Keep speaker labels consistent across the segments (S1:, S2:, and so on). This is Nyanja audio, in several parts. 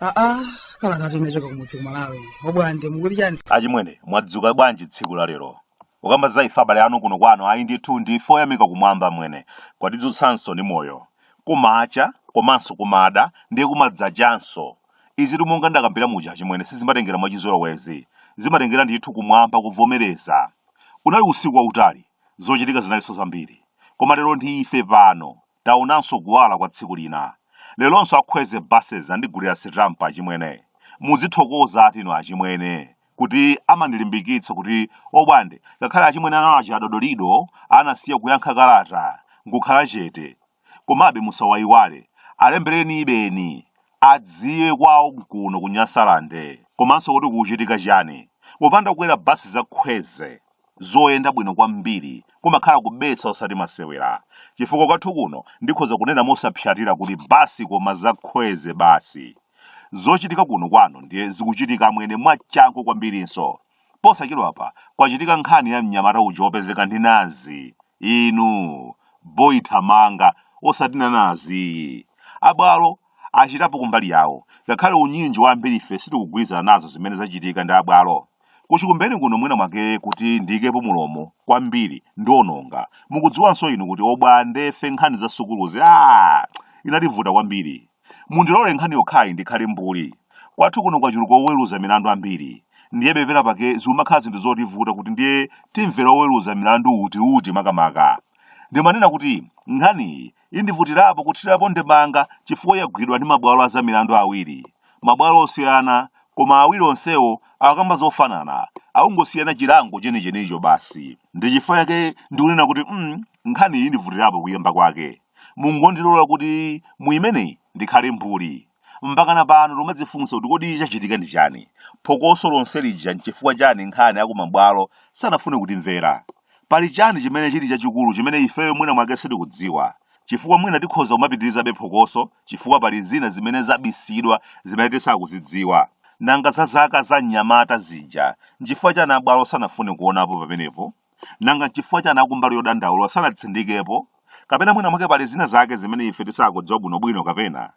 S1: aa kalata yochoka kumudzi ku Malawi obwande mukuti chani achimwene mwadzuka bwanji tsiku la lero ukamba za ife abale anu kuno kwanu ayi ndithu ndi ife oyamika kumwamba mwene kwatidzutsanso ndi moyo kumacha komanso kumada ndiye kumadzachanso Izitu monga ndakambira muja achimwene sizimatengera mwachizolowezi. Zimatengera ndithu kumwamba kuvomereza. Unali usiku wautali, zochitika zinalinso zambiri. Koma lero ndi ife pano, taonanso kuwala kwa tsiku lina. Leronso a Khweze buses andigulira sitampa achimwene. Mudzithokozatu inu achimwene kuti amandilimbikitsa kuti obwande ngakhale achimwene anawa aja a Dodolido anasiya kuyankha kalata nkukhala chete Komabe musawaiwale, alembereni basi adziwe kwawo nkuno ku Nyasalande komanso kuti kukuchitika chani. Kupanda kukwera bus za Khweze zoyenda bwino kwambiri kumakhala kubetsa osati masewera chifukwa kwathu kuno ndikhoza kunena mosapsatira kuti bus koma za Khweze basi. Zochitika kuno kwanu ndiye zikuchitika amwene mwachangu kwambirinso Posachedwapa kwachitika nkhani ya mnyamata uja wopezeka ndi nazi. Inu, boy thamanga, osati nanazi iyi. Abwalo achitapo kumbali yawo, ngakhale unyinji wa ambirife sitikugwirizana nazo zimene zachitika ndi abwalo. Kuchikumbeni kuno mwina mwake kuti ndiikepo mulomo kwambiri ndiononga. Mukudziwanso inu kuti obwandefe nkhani za sukuluzi aah zinativuta kwambiri. Mundilole nkhani yokhayi ndikhale mbuli. Kwathu kuno kwachuluka oweruza milandu ambiri. Ndiye pena pake zikumakhala zinthu zovuta kuti ndiye timvera oweruza milandu uti uti makamaka. Ndimanena kuti nkhaniyi indivutirapo kuthirapo ndemanga chifukwa yagwidwa ndi mabwalo a zamilandu awiri. Mabwalo osiyana, koma awiri onsewo akukamba zofanana, akungosiyana chilango chenichenicho basi. Ndi chifukwa chake ndikunena kuti mm, nkhaniyi indivutirapo kuyamba kwake. Mungondilola kuti mu imeneyi ndikhale mbuli. Mpakana pano tikumadzifunsa kuti kodi chachitika ndi chani? Phokoso lonse lija n'chifukwa chani nanga akumabwalo sanafune kutimvera? Pali chani chimene chili chachikulu chimene ifeyo mwina mwake sitikudziwa? Chifukwa mwina tikhoza kumapitirizabe phokoso chifukwa pali zina zimene zabisidwa zimene tisakuzidziwa. Nanga za zaka za mnyamata zija, n'chifukwa chani abwalo sanafune kuonapo pamenepo? Nanga n'chifukwa chani akumbali yodandaula sanatsindikepo? Kapena mwina mwake pali zina zake zimene ife tisakudziwa bwinobwino kapena?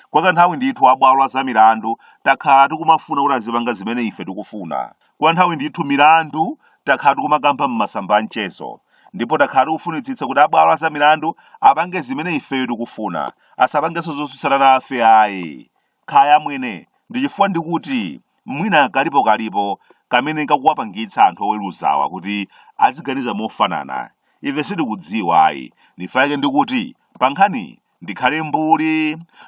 S1: Kwa kanthawi ndithu a bwalo la za milandu takhala tikumafuna kuti azipanga zimene ife tikufuna. Kwa nthawi ndithu milandu takhala tikumakamba m'masamba a mchezo. Ndipo takhala tikufunitsitsa kuti a bwalo la za milandu apange zimene ifeyo tikufuna, asapangenso zotsutsana nafe ayi. Kaya amwene, ndi chifukwa ndikuti mwina kalipo kalipo kamene kakuwapangitsa anthu oweluzawa kuti aziganiza mofanana, ife sitikudziwa ayi, n'chifukwa chake ndikuti pa nkhaniyi ndikhale mbuli,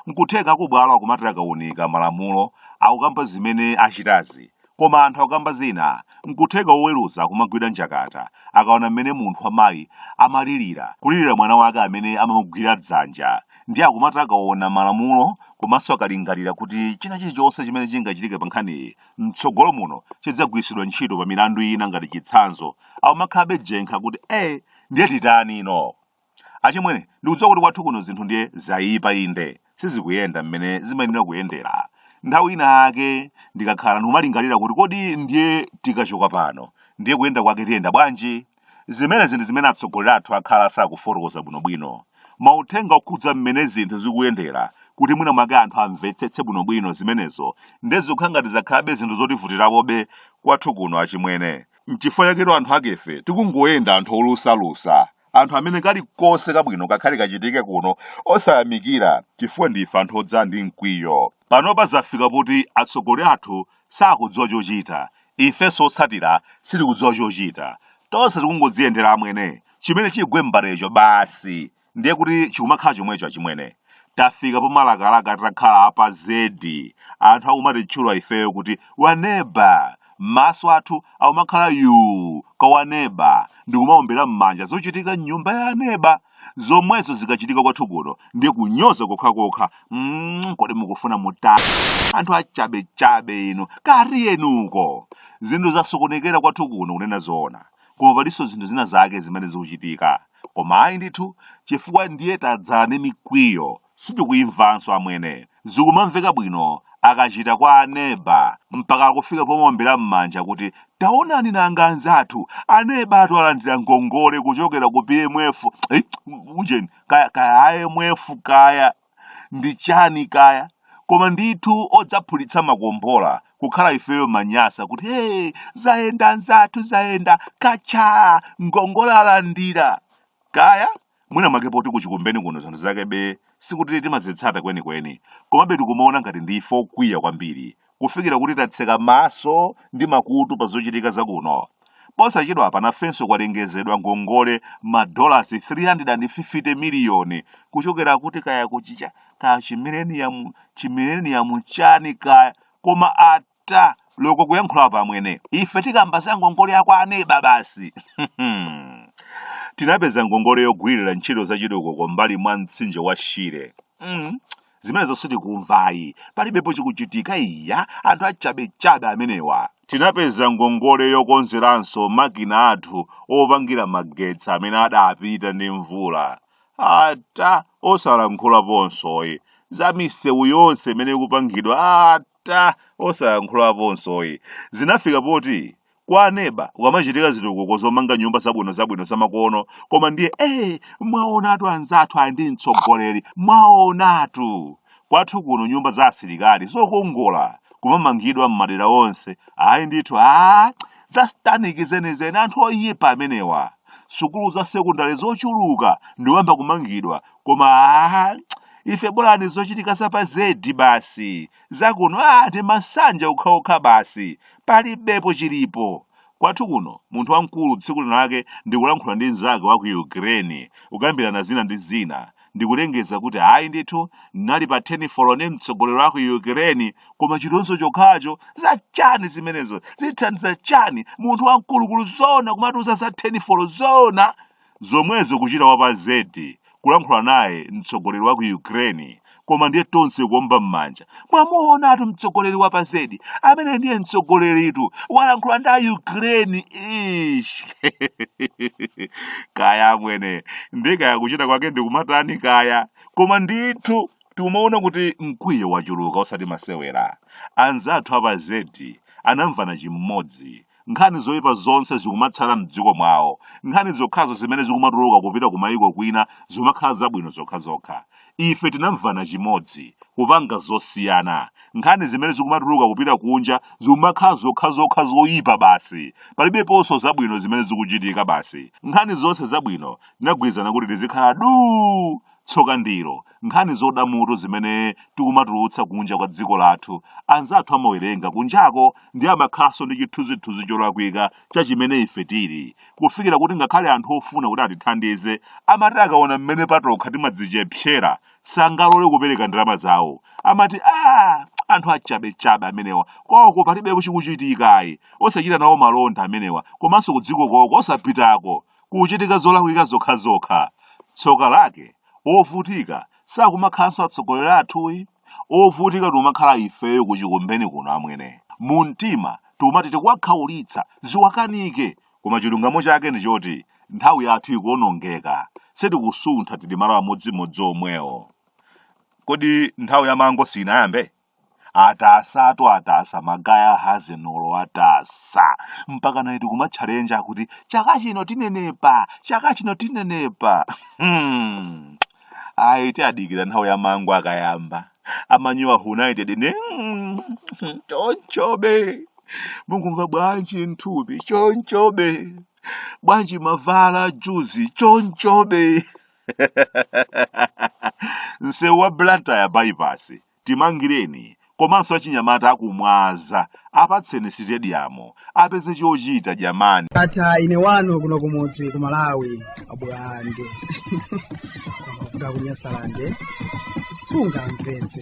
S1: nkutheka akubwalo akumati akaunika malamulo akukamba zimene achitazi, Koma anthu akamba zina. N'kutheka woweruza akumagwidwa njakata akaona mmene munthu wamayi amalilira, kulilira mwana wake amene amamugwira dzanja. Ndiye akumati akaona malamulo komanso akalingalira kuti china chilichonse chimene chingachitike pa nkhaniyi m'tsogolo muno chidzagwiritsidwa ntchito pa milandu ina ngati chitsanzo, akumakhalabe jenkha kuti, Eh, ndiye titani no? Achimwene, ndikudziwa kuti kwathu kuno zinthu ndiye zayipa inde sizikuyenda mmene zimayenera kuyendera. Nthawi ina yake ndikakhala pano ndikumalingalira kuti kodi ndiye tikachoka pano ndiye kuyenda kwake tiyenda bwanji? Zimenezi ndi zimene atsogoleri athu akhala sakufotokoza bwinobwino. Mauthenga okhudza mmene zinthu zikuyendera kuti mwina mwake anthu amvetsetse bwinobwino zimenezo ndiye zikukhala ngati zakhalabe zinthu zotivutirakobe kwathu kuno achimwene. N'chifukwa chaketu anthu akefe tikungoyenda anthu olusalusa. anthu amene kalikonse kabwino kakhale kachitike kuno osayamikira chifukwa ndife anthu odzala ndi mkwiyo panopa zafika poti atsogoleri athu sakudziwa chochita ifenso otsatira sitikudziwa chochita tonse tikungodziyendera amwene chimene chigwe m'mbalecho basi ndiye kuti chikumakhala chomwecho achimwene tafika pomalakalaka titakhala apa zedi anthu akumatitchula ifeyo kuti aneba maso athu akumakhala yuu kwa aneba ndikumaombera m'manja zochitika m'nyumba ya aneba zomwezo zikachitika kwathu kuno ndiye kunyoza kokhakokha mm, kodi mukufuna mutani anthu achabechabe inu katiyeniko zinthu zasokonekera kwathu kuno kunena zoona koma palinso zinthu zina zake zimene zikuchitika koma ayi ndithu chifukwa ndiye tadzala ndi mikwiyo Sitikuimvanso amwene. Zikumamveka bwino akachita kwa a neba mpaka akufika pomaombera mmanja kuti taonani nanga anzathu anebatu alandira ngongole kuchokera ku PMF ujeni kaya kaya IMF kaya ndi chani kaya koma ndithu odzaphulitsa makombola kukhala ifeyo manyasa kuti hey, zayenda anzathu zayenda katcha ngongole alandira kaya Mwina mwake poti ku Chikumbeni kuno zinthu zakebe sikuti timazitsata kwenikweni, komabe tikumaona ngati ndi ife okwiya kwambiri kufikira kuti tatseka maso ndi makutu pa zochitika za kuno. Posachedwapa nafenso kwalengezedwa ngongole madolasi 350 miliyoni kuchokera kuti kaya kuchicha kaya chimileniyamu chimileniyamu chani kaya koma a ta loko kuyankhulapo amwene ife tikamba za ngongole ya kwa aneba basi tinapeza ngongole yogwirira ntchito za chitukuko mbali mwa mtsinje wa shire mm. zimenezonso sitikumvayi palibepo chikuchitika iya anthu achabechabe amenewa tinapeza ngongole yokonzeranso makina athu opangira magetsi amene adapita ndi mvula ata osayankhulaponsoyi za misewu yonse imene ikupangidwa ata ta osayankhulaponsoyi zinafika poti kwa aneba kukamachitika zitukuko zomanga nyumba zabwino zabwino zamakono koma ndiye ee mwaonatu anzathu ali ndi mtsogoleri mwaonatu kwathu kuno nyumba za asilikali zokongola kumamangidwa m'madera onse ayi ndithu a za sataniki zenizeni anthu oyipa amenewa sukulu za sekondale zochuluka ndikuyamba kumangidwa koma aa ife bolani zochitika za pa zedi basi zakuno aa ndi mansanja okhaokha basi palibepo chilipo kwathu kuno munthu wamkulu tsiku lina lake ndikulankhula ndi mnzake wa ku ukraine kukambirana zina ndi zina ndikulengeza kuti ayi ndithu ndinali pa telefoni ndi mtsogoleri wa ku ukraine koma chitonzo chokhacho za chani zimenezo zithandiza chani munthu wamkulumkulu zona kumatiuza za telefoni zona zomwezo kuchita wa pa Z kulankhula naye mtsogoleri wa ku Ukraine koma ndiye tonse kuomba m'manja mwamuonatu mtsogoleri wa pa Z amene ndiye mtsogoleritu walankhula ndi a Ukraine ish kaya amwene ndi kaya kuchita kwake ndikumatani kaya koma ndithu timaona kuti mkwiyo wachuluka osati masewera anzathu a pa Z anamvana chimodzi nkhani zoipa zonse zikumatsala m'dziko mwawo nkhani zokhazo zimene zikumatuluka kupita ku mayiko kwina zimakhala zabwino zokhazokha ife tinamvana chimodzi kupanga zosiyana nkhani zimene zikumatuluka kupita kunja zimakhala zokhazokha zoyipa basi palibeponso zabwino zimene zikuchitika basi nkhani zonse zabwino tinagwirizana kuti tizikhala duu Tsoka ndilo, nkhani zoda mutu zimene tikumatulutsa kunja kwa dziko lathu, anzathu amawerenga kunjako ndiye amakhalanso ndi chithunzithunzi cholakwika cha chimene ife tili, kufikira kuti ngakhale anthu ofuna kuti atithandize amati akaona mmene patokha timadzichepsera sangalole kupereka ndalama zawo. Amati, Aaa! Anthu achabechabe amenewa, kwawoko palibepo chikuchitika ayi, osachita nawo malonda amenewa, komanso kudziko kwawoko osapitako. kuchitika zolakwika zokhazokha tsoka lake ovutika sakumakhalanso atsogoleri athuyi ovutika tikumakhala ifeyo kuchikumbeni kuno amwene mu mtima tikumati tikuwakhaulitsa ziwakanike koma chilungamo chake ndi choti nthawi yathu ikuonongeka sitikusuntha tili malo amodzimodzi omwewo kodi nthawi ya mango sinayambe atasa atu atasa magaya hazenolo atasa mpaka naye kumatchalenja kuti chaka chino tinenepa chaka chino tinenepa hmm. ayi tiadikira nthawi ya mangu akayamba a Man United ne chonchobe mukumva bwanji nthupi chonchobe bwanji mavala juzi chonchobe nsewu wa blantyre bypass Timangireni komanso achinyamata aku Mwanza apatseni sitediyamu apeze chochita jamani. Ata ine wanu kuno kumudzi ku Malawi abuluwande amavuta kunyasalande sungamvetse